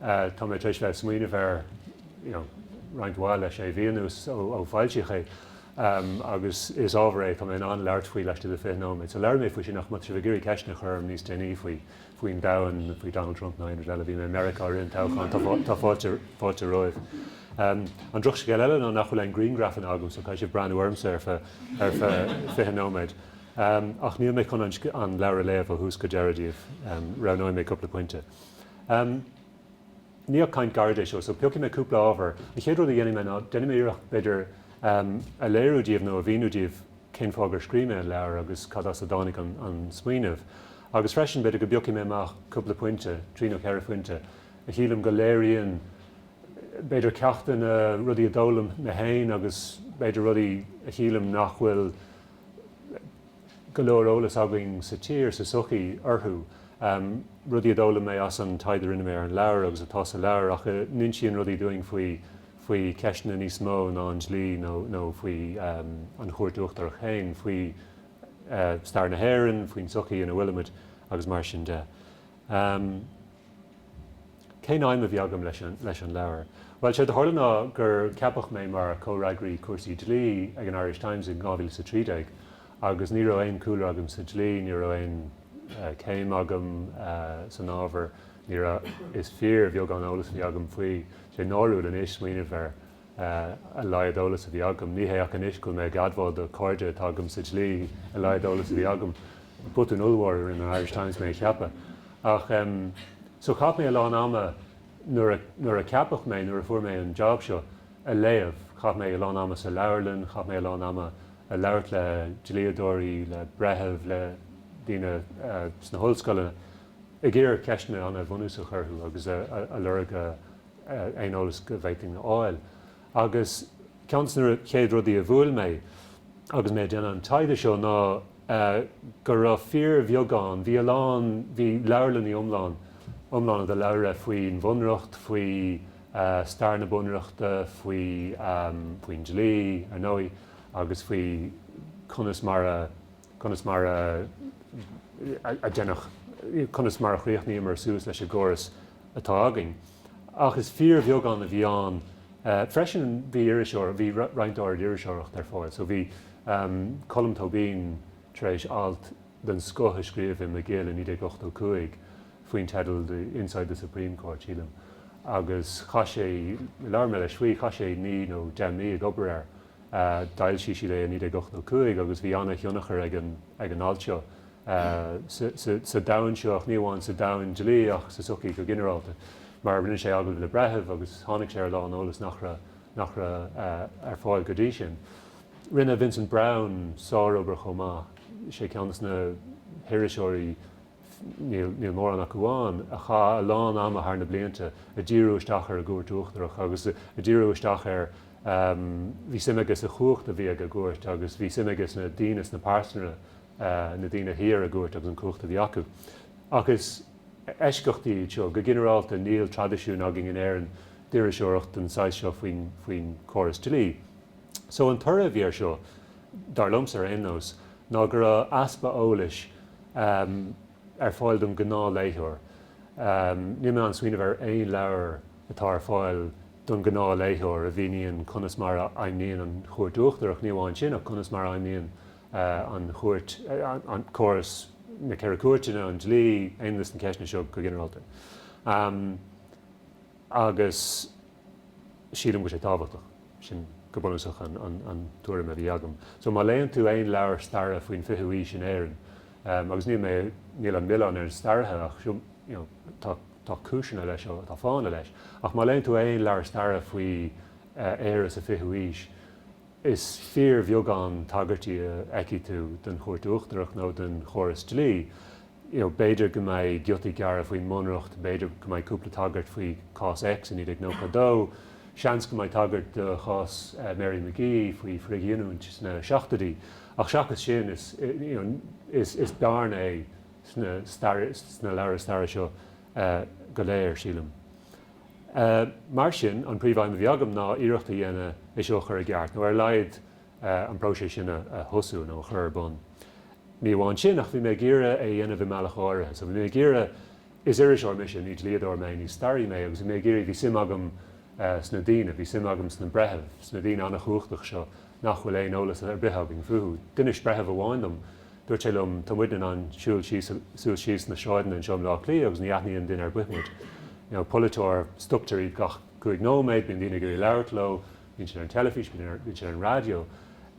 Tá mé tar éis bheith ag smaoineamh air roinnt mhaith le sé mhí anuas, ó foilsíodh é, agus is ábhar é atá mé in ann leabhar faoi laistigh de 20 nóiméad. So labhróidh mé faoi sin, ach má tá sibh ag iarraidh ceisteanna a chur orm níos déanaí faoi, faoin domhan, faoi Donald Trump nó aon rud eile, bhí mé i Meiriceá i rith an toghcháin, tá fáilte romhaibh. An drochscéal eile ná nach bhfuil aon griangrafanna agam, so caithfidh sibh breathnú ormsa ar feadh 20 nóiméad. Ach níl mé chun an leabhar a léamh ó thús go deireadh daoibh, roghnóidh mé cúpla pointe. Mar caint gairid é seo, so piocfaidh mé cúpla ábhar. An chéad rud a dhéanfaidh mé ná, déanfaidh mé iarracht, b'fhéidir, a léiriú daoibh, nó a mhíniú daoibh, cén fáth gur scríobh mé an leabhar agus cad as a dtáinig an smaoineamh. Agus freisin, b'fhéidir go bpiocfaidh mé amach cúpla pointe, trí nó ceithre phointe, a shílim go léiríonn, b'fhéidir, ceachtanna, rudaí a d'fhoghlaim mé féin agus, b'fhéidir, rudaí a shílim nach bhfuil, go leor eolas againn sa tír, sa tsochaí, orthu. Rudaí a d'fhoghlaim mé as an taighde a rinne mé ar an leabhar agus atá sa leabhar ach a n-insíonn rudaí dúinn faoi faoi cheisteanna níos mó ná an dlí nó nó faoi an Chúirt Uachtarach féin, faoi stair na hÉireann, faoin sochaí ina bhfuilimid agus mar sin de. Cén aidhm a bhí agam leis an leabhar? Bhuel, séard a tharla ná gur ceapadh mé mar chomhfhreagraí cúrsaí dlí ag an Irish Times in 2013 agus ní raibh aon chúlra agam sa dlí, ní raibh aon chéim agam san ábhar, ní raibh, is fíorbheagán eolas a bhí agam faoi. Tá sé náiriúil anois smaoineamh air. a laghad eolas a bhí agam, ní hé ach anois go bhfuil mé ag admháil do chairde atá agam sa dlí, a laghad eolas a bhí agam. Botún ollmhór a rinne an Irish Times mé a cheapadh. Ach em. So chaith mé a lán ama nuair a, nuair a ceapadh mé, nuair a fuair mé an jab seo, a léamh. Chaith mé a lán ama sa leabharlann, chaith mé a lán ama a' labhairt le dlíodóirí, le breithimh, le daoine eh sna hollscoileanna, ag iarraidh ceisteanna ana bhunúsach a chur orthu agus a, a, a lorg a, aon eolas go bhféadfainn a fháil. Agus ceann de na chéad rudaí a bhuail mé agus mé ag déanamh an taighde seo ná go raibh fíorbheagán, bhí a lán, bhí leabharlannaí iomlán, iomlána de leabhra faoin bhunreacht, faoi stair na bunreachta, faoi, faoin dlí, ar ndóigh, agus faoi conas mar a. conas mar a deineadh, conas mar a chríochnaíomar suas leis an gcóras atá againn. Ach is fíorbheagán a bhí ann. Freisin bhí, bhí roinnt áirid iriseoireacht ar fáil. So bhí Colm Tóibín tar éis alt den scoth a scríobh in Magill i 1985 faoin teideal The Inside the Supreme Court, sílim, agus chaith sé, labhair mé leis faoi, chaith sé naoi nó deich mí ag obair air. D'fhoilsigh siad é i 1985 agus bhí an-thionchar ag an alt seo sa domhan seo, ach ní amháin sa domhan dlí ach sa tsochaí go ginearálta, mar rinne sé agallaimh le breithimh agus tháinig sé ar a lán eolas nach raibh ar fáil go dtí sin. Rinne Vincent Browne sárobair chomh maith, sé ceann dos na. hiriseoirí, níl mórán acu ann, a chaith a lán ama thar na blianta ag díriú isteach ar an gCúirt Uachtarach agus ag díriú isteach ar, bhí suim aige sa chumhacht a bhí ag an gCúirt agus bhí suim aige sna daoine, sna pearsana, na daoine a shuigh ar an gCúirt agus an chumhacht a bhí acu. Ach is eisceachtaí iad seo. Go ginearálta níl traidisiún againn in Éirinn d'iriseoireacht den saghas seo faoin chóras dlí. So an toradh a bhí air seo, dar liomsa ar aon nós, ná go raibh easpa eolais ar fáil don ghnáthléitheoir. Níl mé in ann smaoineamh ar aon leabhar atá ar fáil don ghnáthléitheoir a mhíníonn conas mar a fheidhmníonn an Chúirt Uachtarach, ní amháin sin, ach conas mar a fheidhmíonn an Chúirt, an córas, na Ceithre Cúirteanna, an dlí, you know, na ceisteanna seo go ginearálta. Agus. sílim go bhfuil sé tábhachtach. Sin go bunúsach an tuairim a bhí agam. So má léann tú aon leabhar staire faoin fichiú aois in Éirinn, agus níl mé, níl an milleán ar na staraithe ach you know tá tá cúiseanna leis seo, tá fáthanna leis, ach má léann tú aon leabhar staire faoi Éire sa fichiú aois, Is fíorbheagán tagairtí a fheicfidh tú don Chúirt Uachtarach nó don chóras dlí. You know, b'fhéidir go mbeidh giotaí gearra faoin mBunreacht, b'fhéidir go mbeidh cúpla tagairt faoi Cás X i 1992, seans go mbeidh tagairt do chás Mary McGee faoi frithghiniúint sna seachtoidí, ach seachas sin, is, you know, is bearna é sna leabhair staire seo go léir, sílim. Mar sin, an príomh-aidhm a bhí agam ná iarracht a dhéanamh é seo a chur i gceart, nó ar a laghad an próiseas sin a thosú nó a chur ar bun. Ní amháin sin, ach bhí mé ag iarraidh é a dhéanamh i mbealach áirithe. So bhí mé ag iarraidh, is iriseoir mise, ní dlíodóir mé, ní staraí mé, agus bhí mé ag iarraidh, bhí suim agam sna daoine, bhí suim agam sna breithimh, sna daoine an-chumhachtach seo nach bhfuil aon eolas ar bith againn fúthu. D'inis breitheamh amháin dom, Dúirt sé liom, Tá muidne in ann siúl suas síos na sráideanna anseo i mBleá Cliath agus ní aithníonn duine ar bith muid. You know, polaiteoir, stoptar iad gach cúig nóiméad, bíonn daoine ag iarraidh labhairt leo, bíonn siad ar an teilifís, bíonn siad ar an raidió.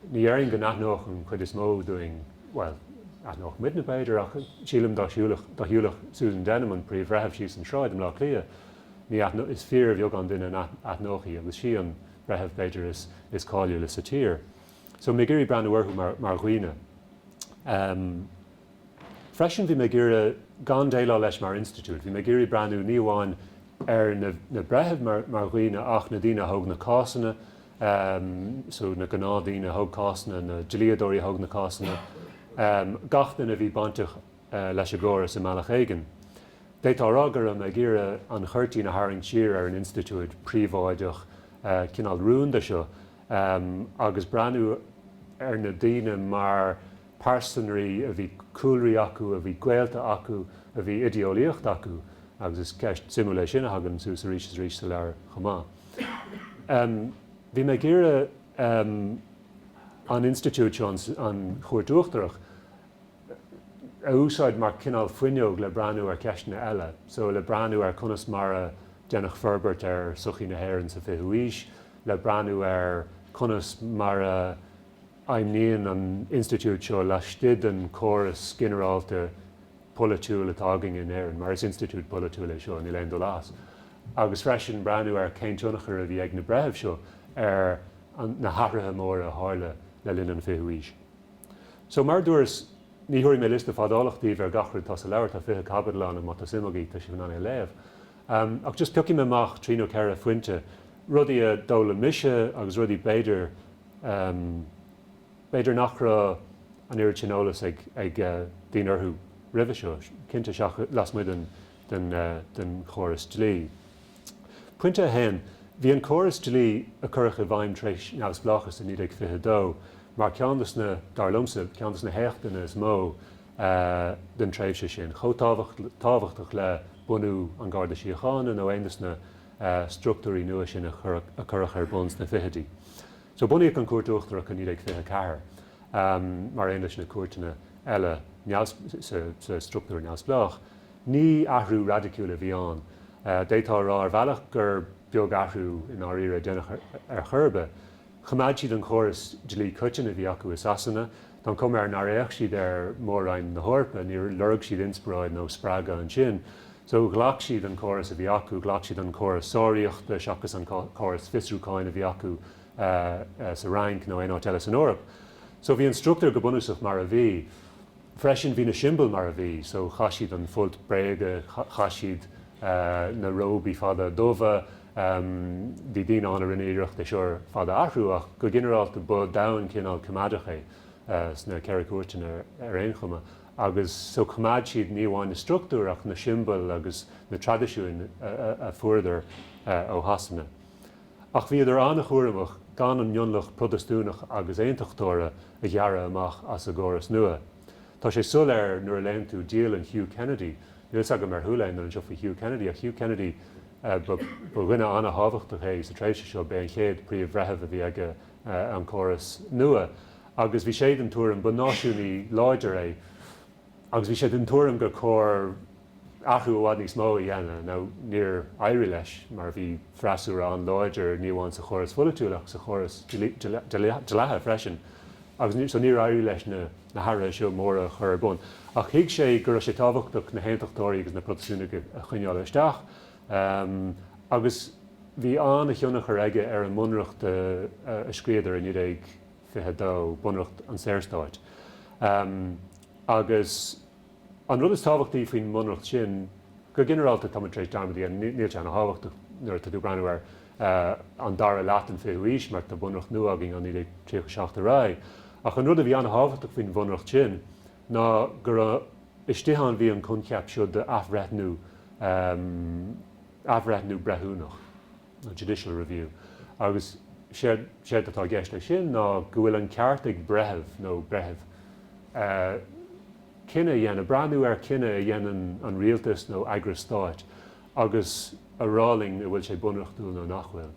Ní dhéarfainn go n-aithneodh an chuid is mó dínn, bhuel, aithneodh muidne b'fhéidir, ach sílim dá shiúlfadh, dá shiúlfadh Susan Denham, an Príomh-Bhreitheamh, síos an sráid i mBleá Cliath, ní aithneodh, is fíorbheagán duine a aithneodh í agus sí an breitheamh b'fhéidir is cáiliúla sa tír. So, bhí mé ag iarraidh breathnú orthu mar, mar dhaoine. Ehm. Freisin, bhí mé ag iarraidh gan déileáil leis mar institiúid. Bhí mé ag iarraidh breathnú, ní amháin ar na, na breithimh mar, mar dhaoine ach na daoine a thóg na cásanna, ehm, so na gnáthdaoine a thóg cásanna, na dlíodóirí a thóg na cásanna, ehm, gach duine a bhí bainteach, eh, leis an gcóras i mbealach éigin. D'fhéadfá a rá go raibh mé ag iarraidh an chuirtín a tharraingt siar ar an institiúid príobháideach, eh, cineál rúnda seo, agus breathnú ar na daoine mar pearsanraí a bhí cúlraí acu, a bhí gaolta acu, a bhí idéolaíocht acu, agus is téama suimiúil é sin a thagann suas arís is arís sa leabhar chomh maith. Bhí mé ag iarraidh an institiúid seo, an Chúirt Uachtarach, a úsáid mar cineál fuinneog le breathnú ar cheisteanna eile, so le breathnú ar conas mar a deineadh forbairt ar sochaí na hÉireann sa 20ú aois, le breathnú ar conas mar a fheidhmníonn an institiúid seo laistigh den chóras ginearálta polaitiúil atá againn in Éirinn, mar is institiúid polaitiúil é seo, níl aon dul as, agus freisin breathnú ar cén tionchar a bhí ag na breithimh seo ar na hathruithe móra a tharla le linn an fichiú aois. So, mar a dúras, ní thabharfaidh mé liosta fadálach daoibh ar gach rud atá sa leabhar, tá fiche caibidil ann, ach má tá suim agaibh, tá sibh in ann é a léamh. Ach just piocfaidh mé amach trí nó ceithre phointe, rudaí a d'fhoghlaim mise agus rudaí b'fhéidir, b'fhéidir nach raibh an oiread sin eolas ag daoine orthu roimhe seo, cinnte seachas, lasmuigh den chóras dlí. Pointe a haon, bhí an córas dlí a cuireadh i bhfeidhm tar éis neamhspleáchas i 1922 mar ceann de na, dar liomsa, ceann de na héachtanna is mó, den tréimhse sin, chomh tábhachtach le bunú an Gharda Síochána nó aon de na structúirí nua sin a cuireadh ar bun sna fichidí. So bunaíodh an Cúirt Uachtarach i 1924, mar aon leis na cúirteanna eile sa structúr neamhspleách. Ní athrú raidiciúil a bhí ann. D'fhéadfá a rá ar bhealach gur beag athrú i ndáiríre a deineadh ar chor ar bith. Choimeád siad an córas dlí coiteann a bhí acu i Sasana, tá an chuma air nár fhéach siad ar Mhór-Roinn na hEorpa, níor lorg siad inspioráid nó spreagadh ansin. So, ghlac siad an córas a bhí acu, ghlac siad an córas sáraíochta seachas an córas fiosrúcháin a bhí acu sa Fhrainc nó aon áit eile san Eoraip. So, bhí an struchtúr go bunúsach mar a bhí. Freisin, bhí na siombail mar a bhí. So, chaith siad an folt bréige, chaith siad na róbaí fada dubha. Bhí daoine ann a rinne iarracht é seo ar fad a athrú, ach go ginearálta ba domhan cineál coimeádach é, sna Ceithre Cúirteanna ar aon chuma, agus so choimeád siad ní amháin na struchtúir ach na siombail agus na traidisiúin a fuaireadar ó Shasana. Ach bhíodar an-chúramach gan an mionlach Protastúnach agus Aontachtóra a ghearradh amach as a gcóras nua. Tá sé soiléir nuair a léann tú dialann Hugh Kennedy, Níl a fhios agam ar chuala aon duine anseo faoi Hugh Kennedy, ach Hugh Kennedy, ba dhuine an-thábhachtach é sa tréimhse seo, b'é an chéad phríomh-bhreitheamh a bhí ag an gcóras nua, agus bhí sé den tuairim, ba náisiúnaí láidir é, agus bhí sé den tuairim gur chóir athrú i bhfad níos mó a dhéanamh. Now, níor éirigh leis, mar bhí freasúra an-láidir, ní amháin sa chóras pholaitiúil ach sa chóras dlí, dleatha freisin, agus so níor éirigh leis na. na hathruithe seo móra a chur ar bun. Ach thuig sé go raibh sé tábhachtach na hAontachtóirí agus na Protastúnaigh a choinneáil isteach, agus bhí an-thionchar aige ar an mbunreacht a scríodar i 1922, Bunreacht an Saorstáit. Agus. An rud is tábhachtaí faoin mBunreacht sin, go ginearálta, tá muid tar éis dearmad a dhéanamh, níl sé an-tábhachtach nuair atá tú ag breathnú ar an dara leath den 20ú aois mar tá Bunreacht nua againn ó 1937 ar aghaidh, ach an rud a bhí an-tábhachtach faoin Bhunreacht sin ná gur istigh ann a bhí an coincheap seo d'athbhreithniú, athbhreithniú breithiúnach. nó judicial review, agus séard atá i gceist leis sin ná go bhfuil an ceart ag breitheamh, nó breithimh, cinneadh a dhéanamh, breathnú ar chinneadh a dhéanann an rialtas nó eagras stáit agus a rá linn an bhfuil sé bunreachtúil nó nach bhfuil.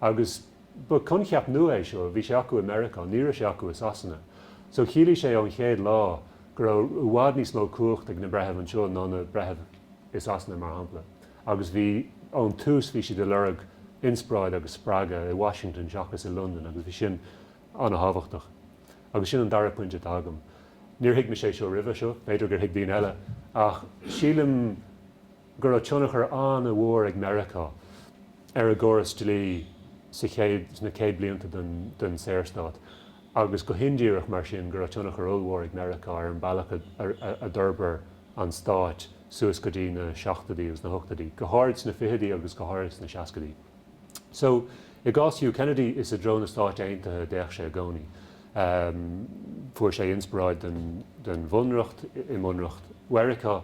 Agus ba coincheap nua é seo, bhí sé acu i Meiriceá, ní raibh sé acu i Sasana. So chiallaigh sé ón chéad lá go raibh i bhfad níos mó cumhacht ag na breithimh anseo ná na breithimh i Sasana, mar shampla. Agus bhí. Ón tús bhí siad ag lorg inspioráid agus spreagadh i Washington seachas i Londain agus bhí sin an-tábhachtach. Agus sin an dara pointe atá agam. Níor thuig mise é seo roimhe seo, b'fhéidir gur thuig daoine eile, ach sílim go raibh tionchar an-mhór ag Meiriceá ar a gcóras dlí sa chéad, sna céad blianta den Saorstát agus go hindíreach mar sin, go raibh tionchar ollmhór ag Meiriceá ar an bhealach a d'fhorbair an stát suas go dtí na seachtoidí agus na hochtoidí, go háirid sna fichidí agus go háirid sna seascaidí. So, i gcás Hugh Kennedy, is i dtreo na Stáit Aontaithe a d'fhéach sé i gcónaí. Fuair sé inspioráid don bhunreacht i mbunreacht Mheiriceá.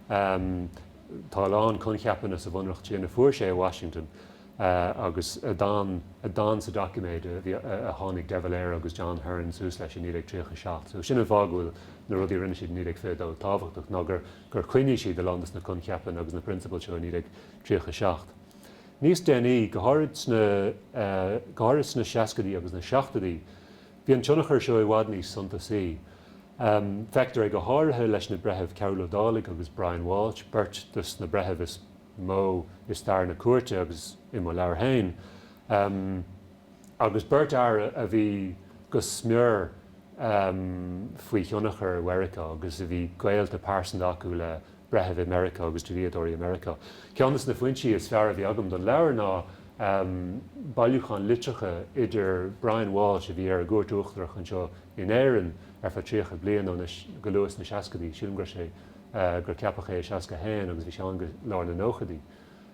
Tá a lán coincheapanna sa bhunreacht sin a fuair sé i Washington. Agus a d'fhan, a d'fhan sa doiciméad a bhí, a tháinig De Valera agus John Hearne suas leis i 1937. So sin an fáth go bhfuil na rudaí a rinne siad i 1922 tábhachtach, ná gur, gur choinnigh siad a lán de na coincheapanna agus na prionsabail seo i 1937. Níos déanaí, go háirid sna, go háirid sna seascaidí agus na seachtoidí, bhí an tionchar seo i bhfad níos suntasaí. Feictear é go háirithe leis na breithimh Cearbhall Ó Dálaigh agus Brian Walsh, beirt de na breithimh is mó i stair na cúirte agus i mo leabhar féin, agus beirt fhear a bhí go smior faoi thionchar Mheiriceá agus a bhí gaolta pearsanta acu le breithimh i Meiriceá agus dlíodóirí i Meiriceá. Ceann de na foinsí is fearr a bhí agam don leabhar ná bailiúchán litreacha idir Brian Walsh, a bhí ar an gCúirt Uachtarach anseo in Éirinn ar feadh 30 bliain, go luath sna seascaidí, sílim go raibh sé gur ceapadh é i 61 agus bhí sé ann go lár na nóchaidí,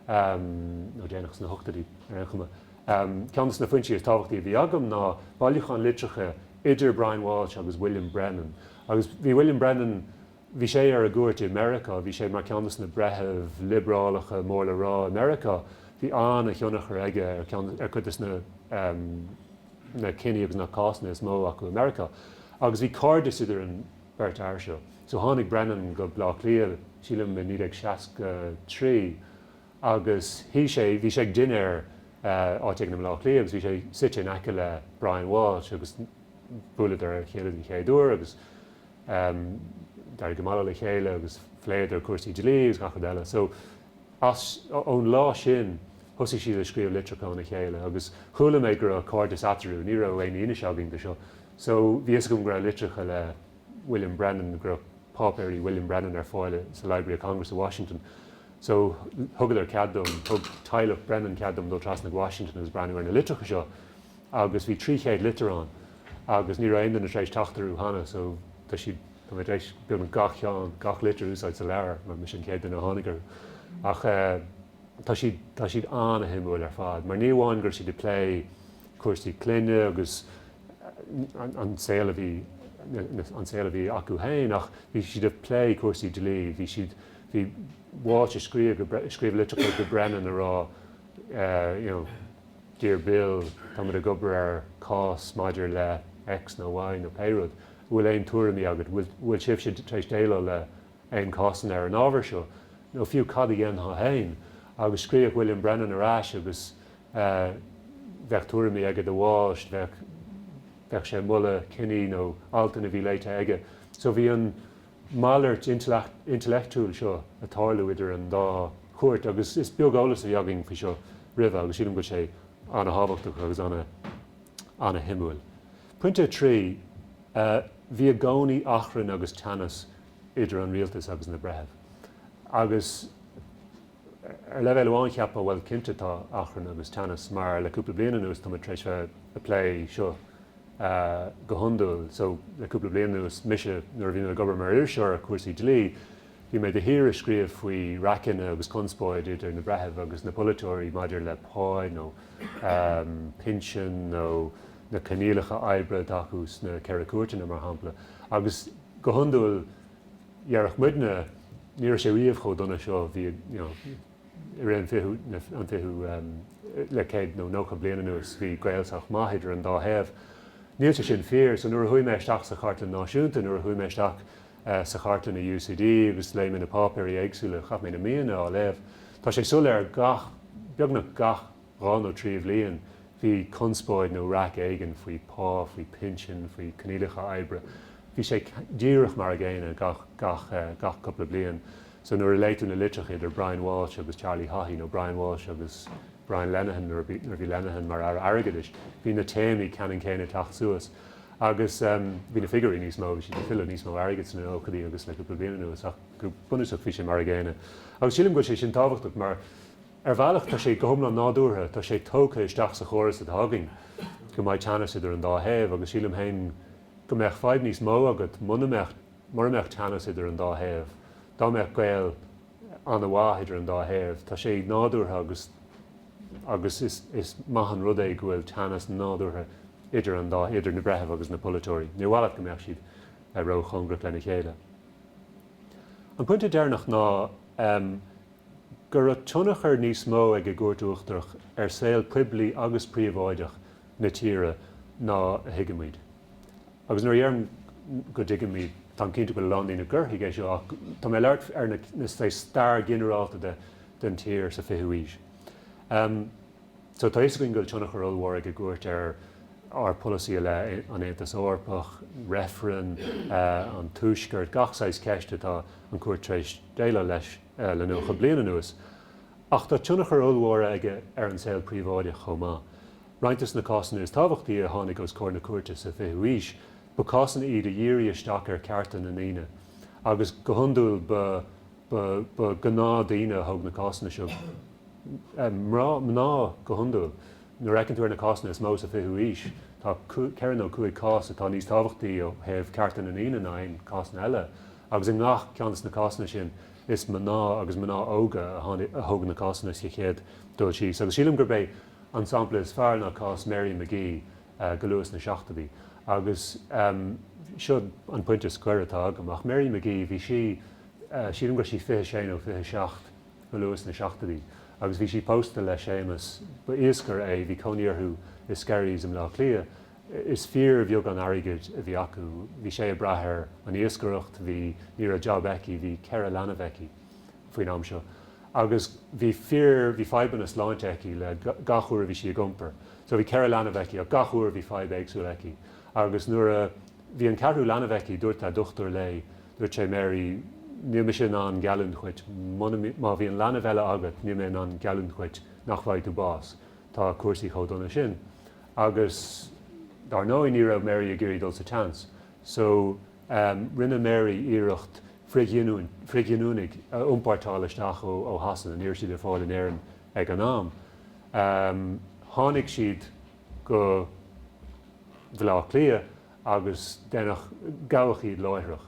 nó déanach sna hochtóidí ar aon chuma. Ceann de na foinsí is tábhachtaí a bhí agam ná bailiúchán litreacha idir Brian Walsh agus William Brennan. Agus bhí William Brennan, bhí sé ar an gcúirt i Meiriceá, bhí sé mar ceann de na breithimh liobrálacha mór le rá i Meiriceá, bhí an-thionchar aige ar cuid de na cinní agus na cásanna is mó acu i Meiriceá. Agus bhí cairdeas idir an beirt fhear seo. So tháinig Brennan go Bleá Cliath, sílim i 1963 agus shuigh sé, bhí sé ag dinnéar áit éigin i mBleá Cliath agus bhí sé suite in aice le Brian Walsh agus bhuaileadar lena chéile den chéad uair agus d'éirigh go maith leo le chéile agus phléadar cúrsaí dlí agus gach rud eile. So as, ón lá sin, thosaigh siad ag scríobh litreacha chun a chéile agus chuala mé go raibh cairdeas eatarthu, ní raibh aon fhianaise againn de seo So bhí fhios agam go raibh litreacha le William Brennan, go raibh páipéirí William Brennan ar fáil sa Library of Congress i Washington. So thugadar cead dom, thug teaghlach Brennan cead dom dul trasna go Washington agus breathnú ar na litreacha seo. Agus bhí trí chéad litir ann. Agus ní raibh aon duine tar éis teacht orthu cheana. So tá siad, tá mé tar éis beagnach gach cheann, gach litir a úsáid sa leabhar, mar mise an chéad duine a tháinig orthu. Ach eh tá siad, tá siad an-shuimiúil ar fad. Mar ní amháin go raibh siad ag plé cúrsaí clainne agus an saol a bhí an saol a bhí acu féin ach bhí siad ag plé cúrsaí dlí, bhí siad bhí Walsh ag scríobh ag scríobh litreacha go Brennan ag rá eh, you know, Dear Bill, tá muid ag obair ar cás maidir le X nó Y nó pé rud, an bhfuil aon tuairimí agat, bhfuil, bhfuil sibhse tar éis déileáil le aon cásanna ar an ábhar seo, nó fiú cad a dhéanfá féin. Agus scríobh William Brennan ar ais agus, bheadh tuairimí aige do Walsh, bheadh, bheadh sé ag moladh cinní nó altanna a bhí léite aige. So bhí an malairt intleacht, intellectual seo a' tarlú idir an dá chuairt agus is beag eolas a bhí againn faoi seo roimhe agus sílim go bhfuil sé ana-thábhachtach agus ana, ana-shuimiúil. Pointe a trí, eh bhí i gcónaí achrann agus teannas idir an rialtas agus na breithimh agus, Ar leibhéal amháin cheapfá, bhuel, cinnte tá achrann agus teannas mar le cúpla bliain anuas tá muid tar éis a plé seo go hiondúil. So, le cúpla bliain anuas, mise, nuair a bhí mé ag obair mar iriseoir ar chúrsaí dlí, bhí mé de shíor ag scríobh faoi raiceanna agus conspóid idir na breithimh agus na polaiteoirí maidir le pá nó pinsin nó na coinníollacha oibre atá acu sna Ceithre Cúirteanna, mar shampla. Agus go hiondúil. dhéarfadh muidne, ní raibh sé riamh chomh dona seo, bhí, you know, i rith an fichiú, na, an fichiú, um, le céad nó nócha bliain anuas, bhí gaol sách maith idir an dá thaobh. Níl sé sin fíor. So nuair a chuaigh mé isteach sa Chartlann Náisiúnta, nuair a chuaigh mé isteach, eh, sa chartlann i UCD agus léigh mé na páipéirí éagsúla, chaith mé na míonna á léamh, tá sé soiléir gach, beagnach gach, dhá nó trí bhliain bhí conspóid nó raic éigin faoi pá, faoi pinsin, faoi coinníollacha oibre. Bhí sé díreach mar a gcéanna gach gach cúpla bliain. So nuair a léigh tú na litreacha idir Brian Walsh agus Charlie Haughey nó Brian Walsh agus Brian Lenihan nuair a nuair a bhí Lenihan mar Aire Airgeadais, bhí na téamaí ceannann céanna ag teacht suas. Agus bhí na figiúirí níos mó, bhí siad ag tuilleamh níos mó airgid sna nóchaidí agus le cúpla bliain anuas ach go bunúsach bhí sé mar a gcéanna. Agus sílim go bhfuil sé sin tábhachtach mar, Ar bhealach, tá sé go hiomlán nádúrtha, tá sé tógtha isteach sa chóras atá againn, go mbeidh teannas idir an dá thaobh, agus sílim féin go mbeadh fadhb níos mó agat mura mbeadh, mura mbeadh teannas idir an dá thaobh, dá mbeadh gaol an-mhaith idir an dá thaobh. Tá sé nádúrtha agus, agus is, is maith an rud é go bhfuil teannas nádúrtha idir an dá, idir na breithimh agus na polaiteoirí. Níor mhaith leat go mbeadh siad ró-chóngarach lena chéile. An pointe deireanach ná, go raibh tionchar níos mó ag an gCúirt Uachtarach ar saol poiblí agus príobháideach na tíre ná a thuigimid. Agus nuair a dheirim go dtuigimid, táim cinnte go bhfuil a lán daoine a thuigfeadh é seo, ach tá mé ag labhairt ar na, sa stair ghinearálta de, den tír sa 20ú aois. So tá fhios againn go bhfuil tionchar ollmhór ag an gCúirt ar ár polasaí i leith an Aontas Eorpach, reifreann, an Tuaisceart, gach saghas ceist atá an Chúirt tar éis déileáil leis. le 90 bliain anuas, ach tá tionchar ollmhór aige ar an saol príobháideach chomh maith. Roinnt de na cásanna is tábhachtaí a tháinig os comhair na cúirte sa 20ú haois, ba cásanna iad a dhírigh isteach ar chearta na ndaoine, agus go hiondúil ba gnáthdhaoine a thug na cásanna seo, mná go hiondúil. Nuair a fheiceann tú ar na cásanna is mó sa 20ú haois, tá ceithre nó cúig cás atá níos tábhachtaí ó thaobh cearta na ndaoine ná aon chásanna eile. Agus i ngach ceann de na cásanna sin, is mná, agus mná óga, a thóg na cásanna sa chéad dul síos. Agus sílim gurb é an sampla is fearr ná cás Mary McGee go luath sna seachtóidí. Agus seo an pointe scoir atá agam. Ach Mary McGee, bhí sí, sílim go raibh sí fiche sé nó fiche seacht go luath sna seachtóidí, agus bhí sí pósta le Séamas, ba iascaire é, bhí cónaí orthu i Skerries i mBleá Cliath, Is fíorbheagán airgid a bhí acu. Bhí sé ag brath ar an iascaireacht, bhí, ní raibh job aici, bhí ceithre leanbh aici faoin am seo agus bhí fadhbanna sláinte aici le gach uair a bhí sí ag iompar. So bhí ceithre leanbh aici ach gach uair bhí fadhb éagsúil aici agus nuair a bhí an ceathrú leanbh aici dúirt a' dochtúir léi, dúirt sé, Mary, níl mise in ann geallúint dhuit, má bhíonn leanbh eile agat, níl mé in ann geallúint dhuit nach bhfaighidh tú bás, tá cúrsaí chomh dona sin. Agus dar ndóigh ní raibh Mary ag iarraidh dul sa seans. So, rinne Mary iarracht frithghiniúnaigh a iompórtáil isteach ó Shasana, ní raibh siad ar fáil in Éirinn ag an am. Tháinig siad go Bleá Cliath. agus déanadh, gabhadh iad láithreach,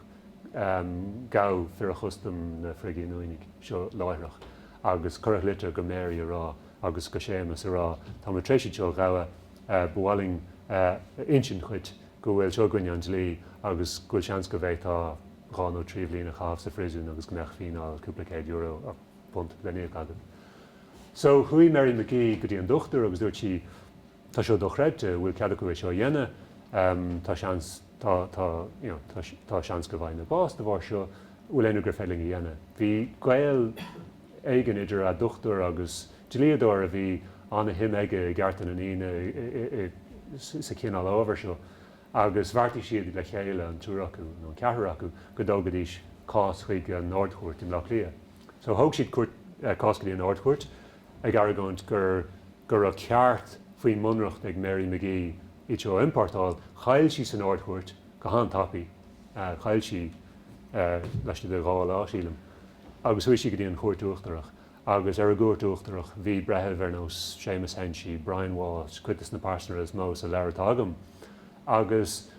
ghabh fir an chustaim na frithghiniúnaigh seo láithreach agus cuireadh litir go Mary a rá agus go Séamas a rá tá muid tar éis iad seo a ghabháil, ba mhaith linn a insint dhuit go bhfuil seo i gcoinne an dlí agus go bhfuil seans go bhféadfá dhá nó trí bhliain a chaitheamh sa phríosún agus go mbeadh fíneáil cúpla céad euro, punt, le n-íoc agat. So chuaigh Mary McGee go dtí an dochtúir agus dúirt sí. Tá seo dochreidte, an bhfuil cead acu é seo a dhéanamh? Tá seans, tá, tá, you know, tá, tá seans go bhfaighidh mé bás de bharr seo, an bhfuil aon rud gur féidir linn a dhéanamh? Bhí gaol éigin idir a' dochtúir agus dlíodóir a bhí ana-shuim aige i gcearta na ndaoine i, i, sa chineál ábhar seo agus bheartaigh siad le chéile, an triúr acu, nó an ceathrar acu, go dtógfaidís cás chuig an Ard-Chúirt i mBleá Cliath. So thóg siad cúirt, eh, cás go dtí an Ard-Chúirt. ag argóint gur go raibh ceart faoin mBunreacht ag Mary McGee iad seo a iompórtáil, chaill sí san Ard-Chúirt go han-tapaidh, chaill sí laistigh de dhá lá, sílim, agus chuaigh sí go dtí an Chúirt Uachtarach agus ar an gCúirt Uachtarach bhí breithimh ar nós Séamus Henchy, Brian Walsh, cuid de na pearsanra is mó sa leabhar atá agam agus.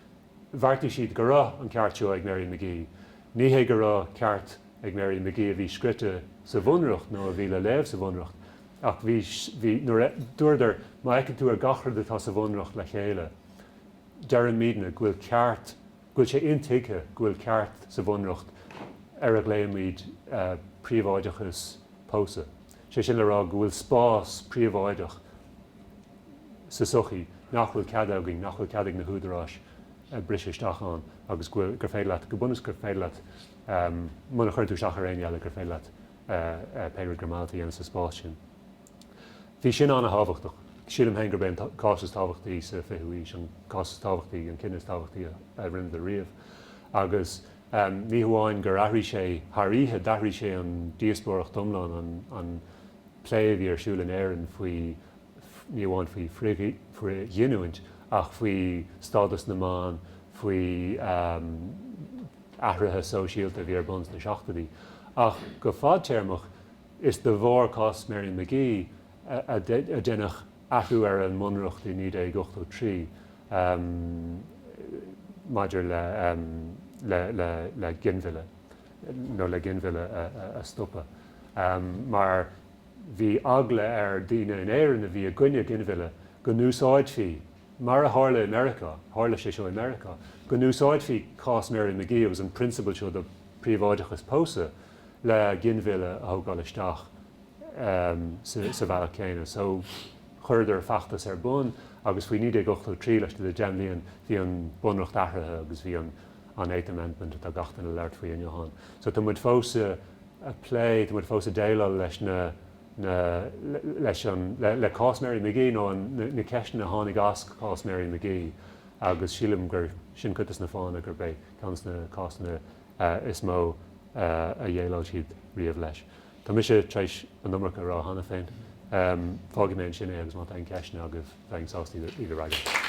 Bheartaigh siad go raibh an ceart seo ag Mary McGee. Ní hé go raibh ceart ag Mary McGee a bhí scrite sa Bhunreacht nó a bhí le léamh sa Bhunreacht, ach bhí, bhí, nuair a, dúradar, má fheiceann tú ar gach rud atá sa Bhunreacht le chéile, deireann muidne go bhfuil ceart, go bhfuil sé intuigthe go bhfuil ceart sa Bhunreacht ar a ghlaoimid príobháideachas pósadh. Sé sin le rá go bhfuil spás príobháideach sa sochaí nach bhfuil cead againn, nach bhfuil cead ag na húdaráis briseadh isteach ann agus gur féidir leat, go bunúsach gur féidir leat, muna chuireann tú isteach ar éinne eile, gur féidir leat pé rud gur mhaith leat a dhéanamh sa spás sin. Bhí sin an-tábhachtach. Sílim féin gurb é an cás is tábhachtaí sa 20ú haois, an cás is tábhachtaí, an cinneadh is tábhachtaí a rinneadar riamh. Agus Ní hamháin gur athraigh sé thar oíche, d'athraigh sé an díospóireacht iomlán, an plé a bhí ar siúl in Éirinn faoi, ní amháin faoi frithghiniúint, ach faoi stádas na mban, faoi athruithe sóisialta a bhí ar bun sna seachtoidí. Ach go fadtéarmach, is de bharr cás Mary McGee a déanadh athrú ar an mbunreacht i 1983 maidir le ginmhilleadh, nó le ginmhilleadh a stopadh, mar bhí eagla ar daoine in Éirinn a bhí i gcoinne ginmhilleadh go n-úsáidfí, mar a tharla i Meiriceá, tharla sé seo i Meiriceá, go n-úsáidfí cás Mary McGee agus an principle seo de príobháideachas pósadh le ginmhilleadh a thógáil isteach. sa bhealach céanna. So, chuireadar feachtas ar bun agus faoi 1983, laistigh de deich mbliain, bhí an bunreacht athraithe agus bhí an an Eighth Amendment atá gach duine ag labhairt faoi inniu ann. So, tá muid fós ag ag plé, tá muid fós ag déileáil leis na na leis an le le cás Mary McGee nó an na na ceisteanna a tháinig as cás Mary McGee agus sílim gur sin cuid des na fáthanna gurb é ceann des na cásanna is mó a dhéileáil siad riamh leis. Tá mise tar éis an iomarca a rá cheana féin. Fágfaidh mé ansin é agus má tá aon cheisteanna agaibh bheinn sásta iad a fhreagairt.